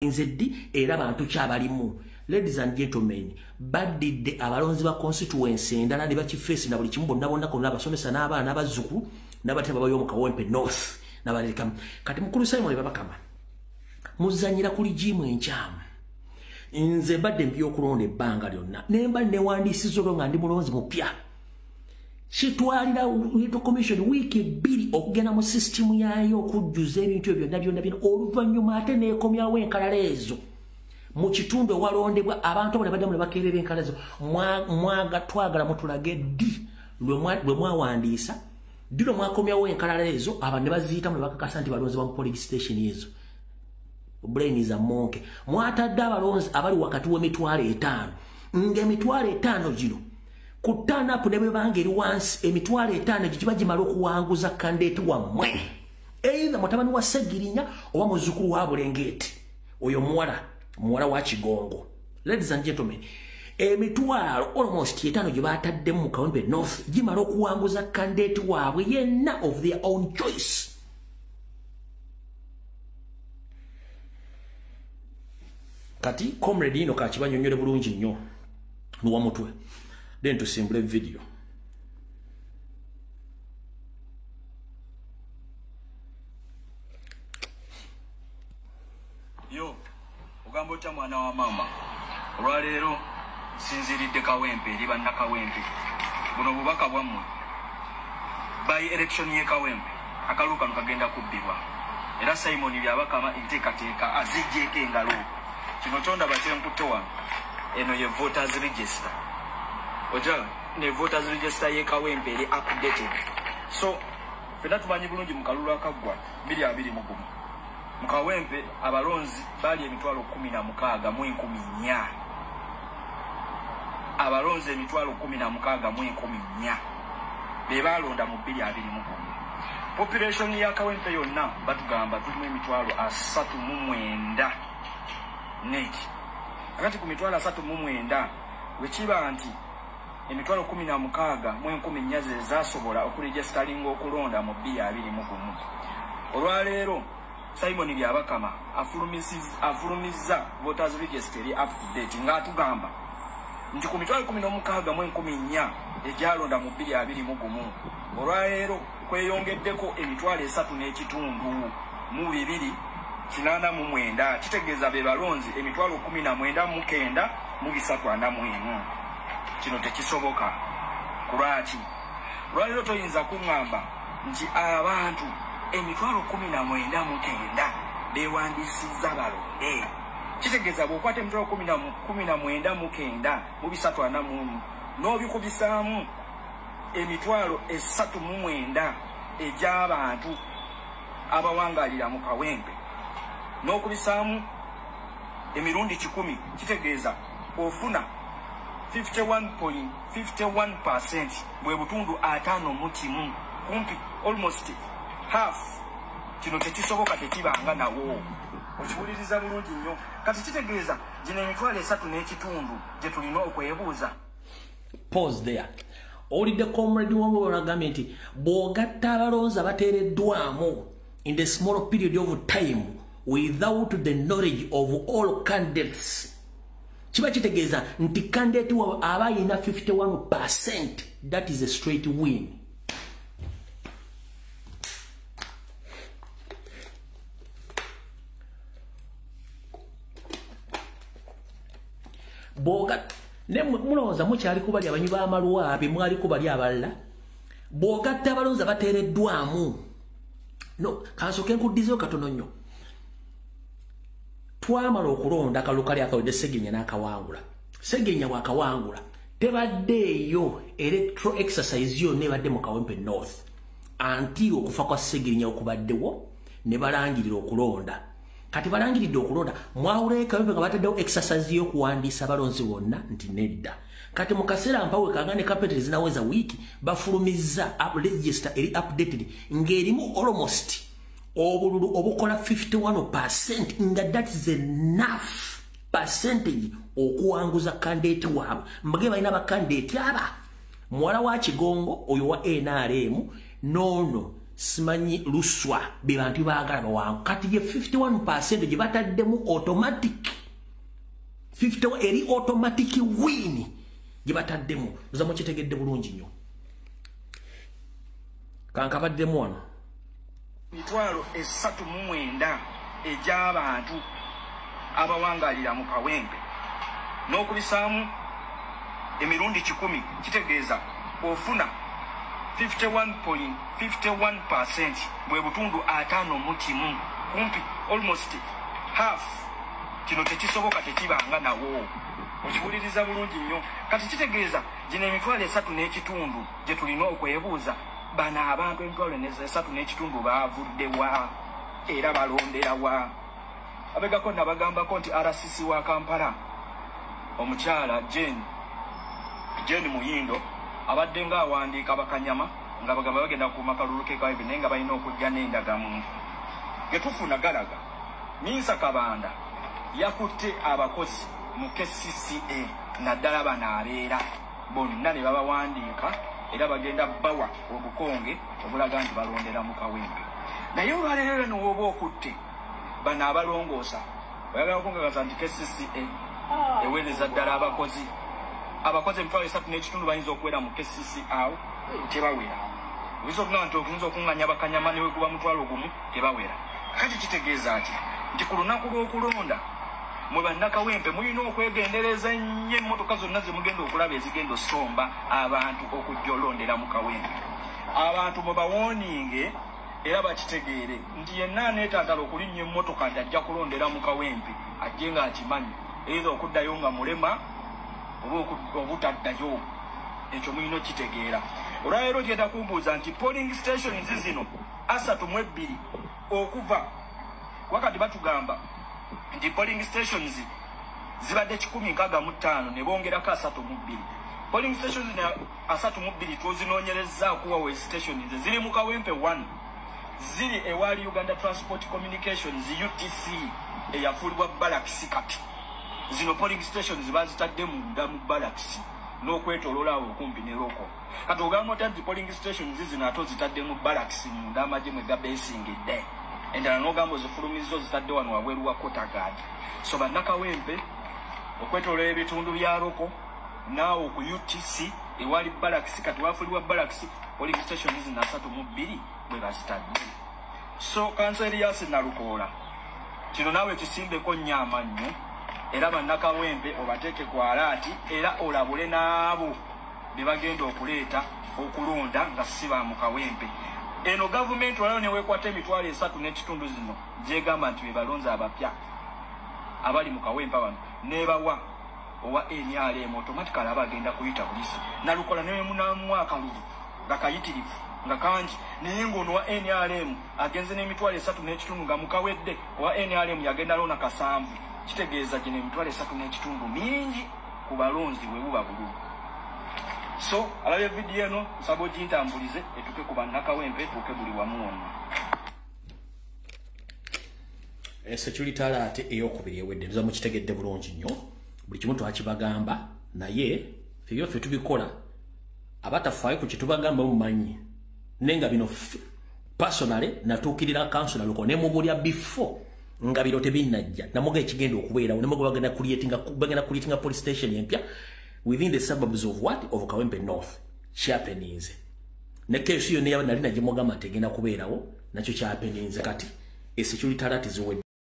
balinze ddi era bantu ki abalimu ladies and gentlemen baddidde abalonzi ba constituency endala ne bakifeesi na buli kimu bonna bonna konna abasomesa n'abaana abazzuku n'abatya babayo mu kawempe north nabalekamu kati mukulu simon babakama muzanyira kuli jiimu enkyamu nze mbadde mbyokulonda ebbanga lyonna nemba newandiisiza olwo nga ndi mulonzi mupya kitwalira electoral commission wiiki bbiri okugenda mu sisitimu yaayo okujjuza ebintu ebyo byonna byonna byonna oluvannyuma ate neekomyawo enkalala ezo mu kitundu ewalondebwa abantu abo ne baddamu ne bakeerera enkalala ezo mwaga twagala mutulage ddi lwe mwawandiisa ddi lwe mwakomyawo enkalala ezo abantu ne baziyitamu ne bakakasa nti balonzebwa mu police station ezo brain is a monkey mwatadde abalonzi abali wakati w'emitwalo etaano ng'emitwalo etaano gino ku turn up ne bwebanga eri wansi emitwalo etaano egyo kiba gimala okuwanguza kandeeti wammwe eitha mutabani wa segirinya oba muzukulu wa bulengeeti oyo muwala muwala wa kigongo ladies and gentlemen emitwalo almost etaano gye baataddemu mu kawempe north gimala okuwanguza kandeeti waabwe yenna of their own choice kati comrade ino kakibanyonyole bulungi nnyo nuwa mutwe then tusimbule video yo ogamba otya mwana wa maama olwaleero sinziridde kawempe eri bannakawempe buno obubaka bwammwe by election ye kawempe akaluukano kagenda kubbibwa era simoni byabakama enteekateeka azijjeeko engalo Kino tondaba kyenkutte wano, eno ye voters register okiraba, ne voters register y'e Kawempe eri updated. So fena tumanyi bulungi mu kalulu akaggwa biri abiri mu gumu mu Kawempe abalonzi baali emitwalo kkumi na mukaaga mu enkumi nnya abalonzi emitwalo kkumi na mukaaga mu enkumi nnya. be baalonda mu bbiri abiri mu gumu population ya kawempe yonna batugamba tulimu emitwalo asatu mu mwenda net akati ku mitwalo asatu mu mwenda wekiba nti emitwalo kumi na mukaaga mu enkumi nnya ze zaasobola okuregisitalinga okulonda mu bbiri abiri mu gumu olwaleero Simon Byabakama afulumizza voters register eri up to date nga atugamba nti ku mitwalo kumi n'omukaaga mu enkumi nnya egyalonda mu bbiri abiri mu gumu olwaleero kweyongeddeko emitwalo esatu n'ekitundu mu bibiri kinaana mu mwenda kitegeeza be balonzi emitwalo kumi na mwenda mu kenda mu bisatu ana mu emu kino tekisoboka kulwaki olwaleero toyinza kuŋŋamba nti abantu emitwalo kumi na mwenda mu kenda bewandiisizza balonde kitegeeza bwokwata emitwalo kumi na mwenda mu kenda mu bisatu ana muomu n'obikubisaamu emitwalo esatu mu mwenda egy'abantu abawangalira mu kawempe n'okubisaamu emirundi kikumi kitegeeza ofuna 51.51 percent Mwe butundu atano mukimu kumpi almost half kino tekisoboka tekibanga nawo okiwuliriza bulungi nnyo kati kitegeeza gino emitwalo esatu n'ekitundu gye tulina okwebuuza pause there owulidde comrade wamwe banagambye nti bw'ogatta abalonzi abateereddwamu in the small period of time without the knowledge of all candidates kiba kitegeeza nti kandidate wawe aba yina 51 percent that is a straight win boga ne mulowooza mukyali kubali abanywi b'amaluwa be mwali kubali abalala bwogatta abalonzi abateereddwamu no kansoke nkuddizeyo katono nnyo twamala okulonda kalulu kali akawedde segenya n'akawangula segenya bwakawangula tebaddeeyo electro exercise yonna ebadde mu kawempe north anti okufa kwa segenya okubaddewo ne balangirira okulonda kati balangiridde okulonda mwawulayo kawempe nga bataddewo exercise y'okuwandiisa balonzi bonna nti nedda kati mu kaseera mpawe kanga ne kapeti ezinaweza wiiki bafulumizza register eri updated ng'erimu almost obululu obukola 51 percent nga that is enough percentage okuwanguza kandidate waabwe mbage balina bakandidate aba muwala wa kigongo oyo wa nrm noono simanyi luswa be bantu baagala bawangu kati ye 51 percent gye bataddemu automatic 51 eri automatic win gye bataddemu oza mukitegedde bulungi nnyo kankabaddemu wano Emitwalo esatu mu mwenda egy'abantu abawangaalira mu Kawempe n'okubisaamu emirundi kikumi kitegeeza ofuna 51.51 percent bwe butundu ataano mu kimu kumpi almost half kino tekisoboka tekibanga nawo okiwuliriza bulungi nnyo kati kitegeeza gino emitwalo esatu n'ekitundu gye tulina okwebuuza Bano abantu emitwalo esatu n'ekitundu baavudde wa era balondera wa? Abegako nabagambako nti RCC wa Kampala omukyala Jane Jane Muyindo abadde nga awandiika bakanyama nga bagamba bagenda kukuuma kalulu kekaib naye nga balina okujja n'endagamuntu getufuna galaga minsa kabanda yakutte abakozi mu kcca naddala bano abeera bonna ne babawandiika era bagenda bawa obukonge obulaga nti balondera mu kawempe naye olwaleero era newooba okutte bano abalongoosa oyagala okungagaza nti kcca ah. eweereza ddala abakozi abakozi emitwalo esatu n'ekitundu bayinza okuwera mu kcca tebawera oyinza okugamba nti oyinza okunganya bakanyama neweguba mutwalo gumu tebawera kati kitegeeza ki nti ku lunaku lw'okulonda Mwe bannakawempe mulina okwegendereza ennyo emmotoka zonna ze mugenda okulaba ezigenda osomba abantu okujja olondera mu kawempe abantu mwe bawooninge era bakitegeere nti yenna aneetagala okulinnya emmotoka nti ajja kulondera mu kawempe ajje ng'akimanyi eitha okuddayo nga mulema oba obutaddayo ekyo mulina okitegeera olwaleero gyenda kumbuuza nti polling stations zino asatu mu ebbiri Okuva kuba kati batugamba nti polling stations zibadde kikumi nkaaga mu ttaano ne bongerako asatu mu bbiri polling stations ne asatu mu bbiri twozinoonyerezza okuwa we station ze ziri mu kawempe one ziri ewaali uganda transport communications utc eyafuulibwa balakisi kati zino polling stations bazitadde munda mu balakisi n'okwetololaawo okumpi ne local kati ogamba otya nti polling stations zino ate ozitadde mu barracks munda amagye mwe gabesingidde endala n'ogamba ozifulumizza ozitadde wano wabweru wa kotagad so bannakawempe okwetolola ebitundu bya loko naawe ku utc ewali barracks kati wafulibwa barracks polling stations zino asatu mu bbiri bwe bazitadde so kanso eriyasi nalukoola kino naawe kisimbeko nnyo amannyo era bannakawempe obateeke ku alaati era olabule n'abo bebagenda okuleeta okulonda nga si ba mu kawempe eno gavumenti olayo newekwata emitwalo esatu n'ekitundu zino gyegamba nti bebalonzi abapya abali mu kawempa bano nebawa owa nrm otomatikali aba agenda kuyita bulisa nalukola newemunamuwa akalulu nga kayitirivu nga kangi naye ngaono wa nrm agenze n'emitwalo esatu n'ekitundu nga mukawedde owa nrm yagenda loona kasanvu kitegeeza gino emitwalo esatu n'ekitundu mingi ku balonzi bwe buba bululu so alabye vidiyo eno nsaba ogintambulize etuke ku bannakawempe etuuke buli wamu wonna security alate eyokubiri ewedde nza mukitegedde bulungi nnyo buli kimu twakibagamba naye ebyo ffe tubikola abatafaayo ku kyetubagamba mumanyi naye nga bino personale natuukirira kansula luko ne mubulya before nga biro tebinnajja namuga ekigenda okubeerawo namuga bagenda creatinga bagenda creatinga police station empya within the suburbs of what of kawempe north kyapeninze ne keesi yonna yaba nali nagyemugamba tegenda kubeerawo nakyo kyapeninze kati esecurity alert ziwedde